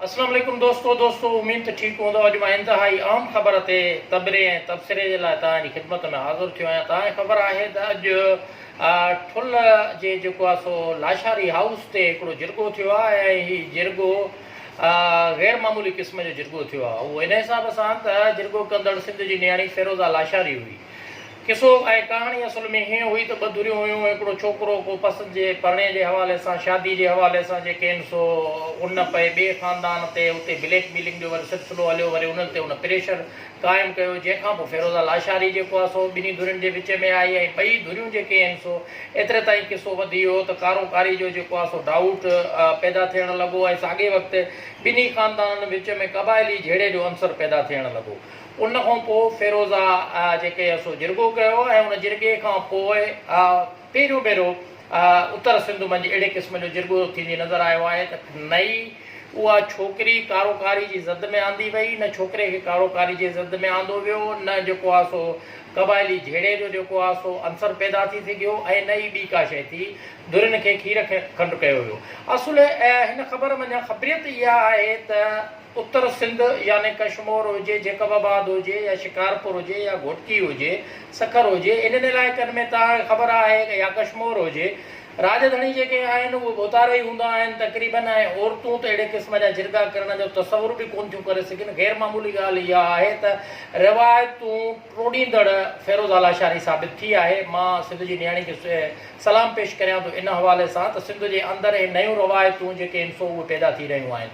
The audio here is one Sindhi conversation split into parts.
اسلام عليڪم دوستو دوستو اميد ته ٺيڪ هوندؤ اڄ مان انتهائي اهم خبر تي تبري ۽ تبصري جي لاء توهان جي خدمت ۾ حاضر ٿيو آهيان توهان کي خبر آهي ته اڄ ٺل جي جيڪو آهي سو لاشاري هائوس تي هڪڙو جرڳو ٿيو آهي ۽ هي جرڳو غير معمولي قسم جو جرڳو ٿيو آهي اهو ان حساب سان ته جرڳو ڪندڙ سنڌ جي نياڻي فيروزا لاشاري هئي قصو ۽ ڪهاڻي اصل ۾ هيئن هئي ته ٻه ڌريون هيون، هڪڙو ڇوڪرو ڪو پسند جي پرڻي جي حوالي سان، شادي جي حوالي سان جي ڪين سو ان پئي ٻئي خاندان تي اتي بليڪ ميلنگ جو وري سلسلو هليو وري انهن تي ان پريشر قائم ڪيو جنهن کان پوء فيروزه لاشاري جيڪو آ سو ٻنهي ڌرين جي وچ ۾ آئي ۽ ٻئي ڌريون جيڪي هين سو ايتري تائين قصو وڌي ويو ته ڪارو ڪاري جو جيڪو آ سو ڊائوٽ پيدا ٿيڻ لڳو ۽ ساڳئي وقت ٻنهي خاندانن وچ ۾ قبائلي جهيڙي جو عنصر پيدا ٿيڻ لڳو ان کان پوء فيروزه جيڪي سو جرڳو ڪيو ۽ ان جرڳي کان پوء پهريون ڀيرو اتر سنڌ منجهه اهڙي قسم جو جرڳو ٿيندي نظر آيو آهي ته نه ئي اها ڇوڪري ڪارو ڪاري جي زد ۾ آندي وئي نه ڇوڪري کي ڪارو ڪاري جي زد ۾ آندو ويو نه جيڪو آهي سو قبائلي جهيڙي جو جيڪو آهي سو عنصر پيدا ٿي سگهيو ۽ نه ئي ٻي ڪا شئي ٿي ڌرين کي کير کنڊ ڪيو ويو اصل هن خبر منجهان خبريت اها آهي ته اتر سنڌ يعني ڪشمور هجي، جيڪب آباد هجي يا شڪارپور هجي يا گهوٽڪي هجي، سکر هجي، انهن علائقن ۾ ته هاڻي خبر آهي يا ڪشمور هجي، راڄ ڌڻي جيڪي آهن اهي ڀوتارا ئي هوندا آهن تقريباً ۽ عورتون ته اهڙي قسم جا جرڳا ڪرڻ جو تصور به ڪونه ٿيون ڪري سگهن. غير معمولي ڳالهه اها آهي ته روايتون ٽوڙيندڙ فيروز آلاشاري ثابت ٿي آهي. مان سنڌ جي نياڻي کي سلام پيش ڪريان ٿو ان حوالي سان ته سنڌ جي اندر اهي نيون روايتون جيڪي هن سو اهي پيدا ٿي رهيون آهن.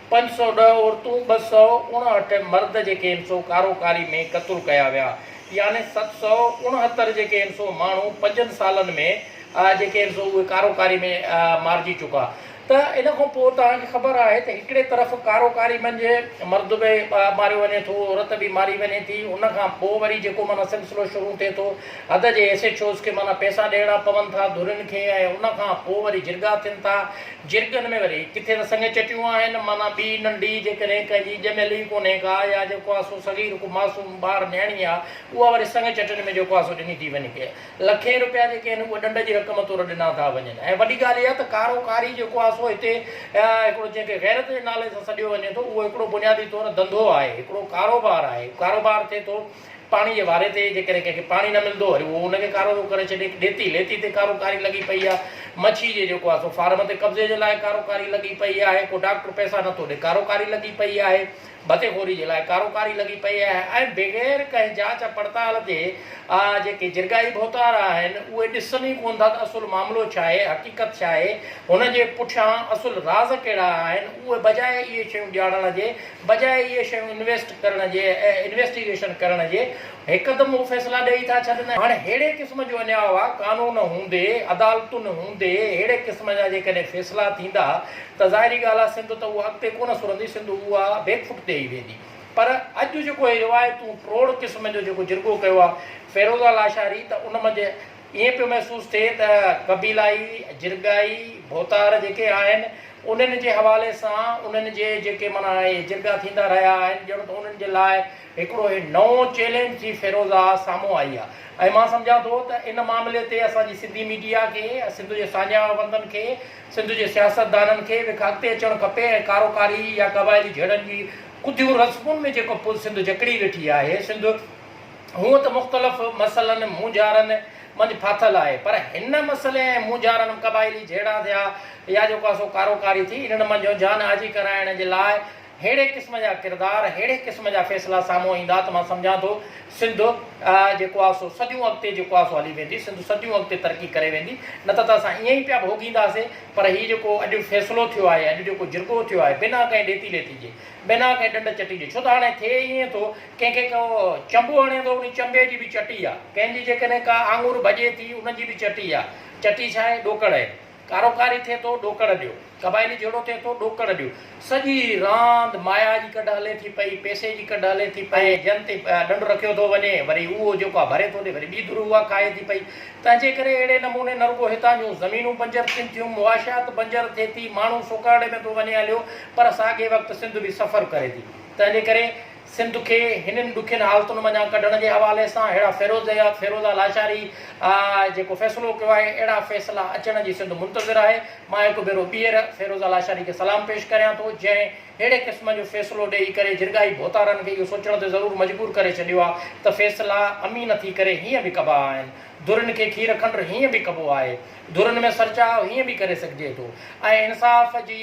پنج سؤ ڏهه عورتون ٻه سؤ اڻهٺ مرد جيڪي ان سو ڪارو ڪاري ۾ قتل ڪيا ويا يعني ست سؤ اڻهتر جيڪي ان سو ماڻهو پنجن سالن ۾ جيڪي ان سو اهي ڪارو ڪاري ۾ مارجي چڪا ته ان کان پوء توهان کي خبر آهي ته هڪڙي طرف ڪارو ڪاري منجهه مرد به ماريو وڃي ٿو عورت به ماري وڃي ٿي ان کان پوء وري جيڪو معنيٰ سلسلو شروع ٿئي ٿو حد جي ايس ايڇ اوز کي معنيٰ پئسا ڏيڻا پون ٿا ڌرين کي ۽ ان کان پوء وري جرڳا ٿين ٿا جرڳن ۾ وري ڪٿي ته سڱ چٽيون آهن، معنيٰ ٻي ننڍي، جيڪڏهن ڪنهن جي ڄميل ئي ڪونهي ڪا يا جيڪو آهي سو صغير ڪو معصوم ٻار نياڻي آهي، اها وري سڱ چٽڻ ۾ جيڪو آهي سو ڏني ٿي وڃي. لکين روپيا جيڪي آهن اهي ڏنڊ جي رقم طور ڏنا ٿا وڃن ۽ وڏي ڳالهه اها ته ڪارو ڪاري جيڪو آهي سو هتي هڪڙو جنهن کي غيرت جي نالي سان سڏيو وڃي ٿو اهو هڪڙو بنيادي طور ڌنڌو آهي، هڪڙو ڪاروبار آهي، ڪاروبار ٿئي ٿو. پاڻي جي واري تي جيڪڏهن ڪنهن کي پاڻي نه ملندو وري اهو ان کي ڪارو ٿو ڪري ڇڏي. ڏيتي ليتي تي ڪارو ڪاري لڳي پئي آهي. مڇي جي جيڪو آهي سو فارم تي قبضي جي لاء ڪارو ڪاري لڳي پئي آهي. ڪو ڊاڪٽر پئسا نه ٿو ڏي ڪارو ڪاري لڳي پئي آهي. ڀتي خوري جي لاء ڪارو ڪاري لڳي پئي آهي ۽ بغير ڪنهن جاچ پڙتال جي آ جيڪي جرڳائي ڀوتار آهن اهي ڏسن ئي ڪونه ٿا ته اصل معاملو ڇا آهي حقيقت ڇا آهي هن جي پٺيان اصل راز ڪهڙا آهن اهي بجاء اهي شيون ڄاڻڻ جي بجاء اهي شيون انويسٽ ڪرڻ جي ۽ انويسٽيگيشن ڪرڻ جي هڪدم اهو فيصلا ڏئي ٿا ڇڏن. هاڻي ههڙي قسم جو اڃا اها قانون هوندي، عدالتن هوندي ههڙي قسم جا جيڪڏهن فيصلا ٿيندا ته ظاهري ڳالهه آهي سنڌ ته اها اڳتي ڪونه سرندي سنڌ اها بيڪ فٽ تي ئي ويندي پر اڄ جيڪو هي روايتون فروڊ قسم جو جيڪو جرڳو ڪيو آهي فيروزا لاشاري ته ان منجهه ائين پيو محسوس ٿئي ته قبيلائي، جرڳائي، ڀوتار جيڪي آهن انهن جي حوالي سان انهن جي جيڪي معنيٰ اهي جرڳا ٿيندا رهيا آهن ڄڻ ته انهن جي لاء هڪڙو هي نئون چئلينج جي فيروزا سامهون آئي آهي ۽ مان سمجهان ٿو ته ان معاملي تي اسان جي سنڌي ميڊيا کي، سنڌ جي ساڃاهوندن کي، سنڌ جي سياستدانن کي به اڳتي اچڻ کپي ۽ ڪارو ڪاري يا قبائلي جهيڙن جي ڪڌيون رسمن ۾ جيڪو سنڌ جڪڙي ويٺي آهي، سنڌ. هونء ته مختلف مسئلن، مونجهارن، منجهه ڦاٿل آهي، پر هن مسئلي ۽ مونجهارن م قبائلي جهيڙا ٿيا يا جو ڪا سو ڪارو ڪاري ٿي، انهن منجهه جان آجي ڪرائڻ جي لاء ههڙي قسم جا ڪردار، ههڙي قسم جا فيصلا سامهون ايندا ته مان سمجهان ٿو سنڌ جيڪو آ سو صديون اڳتي جيڪو آ سو هلي ويندي، سنڌ صديون اڳتي ترقي ڪري ويندي، نه ته ته اسان ائين ئي پيا ڀوڳينداسين، پر هي جيڪو اڄ فيصلو ٿيو آهي، اڄ جيڪو جرڳو ٿيو آهي، بنا ڪنهن ڏيتي ليتي جي، بنا ڪنهن ڏنڊ چٽي جي، ڇو ته هاڻي ٿئي ائين ٿو، ڪنهن کي ڪو چنبو هڻي ٿو ان چنبي جي به چٽي آ، ڪنهن جي جيڪڏهن ڪا آڱر ڀڄي ٿي ان جي به چٽي آ، چٽي ڇا آهي ڏوڪڙ آهي، ڪارو ڪاري ٿئي ٿو ڏوڪڙ ڏيو، قبائلي جهيڙو ٿئي ٿو ڏوڪڙ ڏيو، سڄي راند مايا جي ڪڍ هلي ٿي پئي، پئسي جي ڪڍ هلي ٿي پئي، ۽ جنهن تي ڏنڊ رکيو ٿو وڃي وري اهو جيڪو آ ڀري ٿو ڏي وري ٻي ڌر اها کائي ٿي پئي، تنهنجي ڪري اهڙي نموني نه رڳو هتان جون زمينون بنجر ٿين ٿيون، معاشيات بنجر ٿئي ٿي، ماڻهو سوڪارڙي ۾ ٿو وڃي هليو، پر ساڳئي وقت سنڌ به سفر ڪري ٿي، تنهنجي ڪري. سنڌ کي هنن ڏکين حالتن منجهان ڪڍڻ جي حوالي سان ههڙا فيروز حيات فيروزه لاشاري جيڪو فيصلو ڪيو آهي اهڙا فيصلا اچڻ جي سنڌ منتظر آهي مان هڪ ڀيرو ٻيهر فيروزه لاشاري کي سلام پيش ڪريان ٿو جنهن ههڙي قسم جو فيصلو ڏيئي ڪري جرڳائي ڀوتارن کي اهو سوچڻ تي ضرور مجبور ڪري ڇڏيو آهي ته فيصلا امين ٿي ڪري هيئن به ڪبا آهن درين کي کير کنڊ هيئن به ڪبو آهي ڌرين ۾ سرچاء هيئن به ڪري سگهجي ٿو ۽ انصاف جي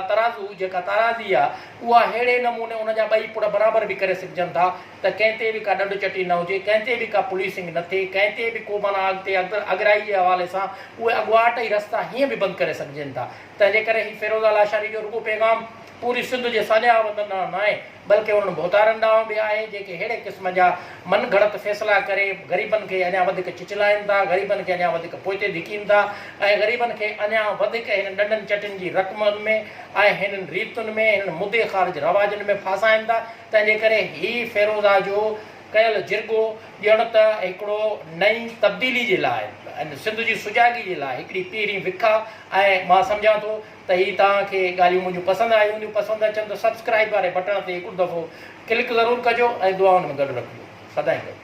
ترازو جيڪا تارازي آ اها ههڙي نموني ان جا ٻئي پڙ برابر به ڪري سگهجن ٿا ته ڪنهن تي به ڪا ڏنڊ چٽي نه هجي ڪنهن تي به ڪا پوليسنگ نه ٿئي ڪنهن تي به ڪو معنيٰ اڳتي اڳرائي جي حوالي سان اهي اڳواٽ ئي رستا هيئن به بند ڪري سگهجين ٿا تنهنجي ڪري هي فيروزه لاشاري جو رڳو پيغام پوري سنڌ جي ساڃاهه وطن ڏانهن ناهي، بلڪه انهن ڀوتارن ڏانهن به آهي، جيڪي ههڙي قسم جا من گهڙت فيصلا ڪري غريبن کي اڃا وڌيڪ چچلائين ٿا، غريبن کي اڃا وڌيڪ پوئتي ڌڪين ٿا ۽ غريبن کي اڃا وڌيڪ هنن ڏنڊن چٽين جي رقمن ۾ ۽ هنن ريتن ۾ هنن مدي خارج رواجن ۾ ڦاسائين ٿا، تنهن جي ڪري هي فيروزا جو ڪيل جرڳو ڄڻ ته هڪڙو نئين تبديلي جي لاء ۽ سنڌ جي سجاڳي جي لاء هڪڙي پيرين وکا ۽ مان سمجهان ٿو ته هي توهان کي ڳالهيون منهنجون پسند آيون هونديون پسند اچن ته سبسڪرائيب واري بٽڻ تي هڪڙو دفعو ڪلڪ ضرور ڪجو ۽ دعائن ۾ گڏ رکجو سدائين گڏ.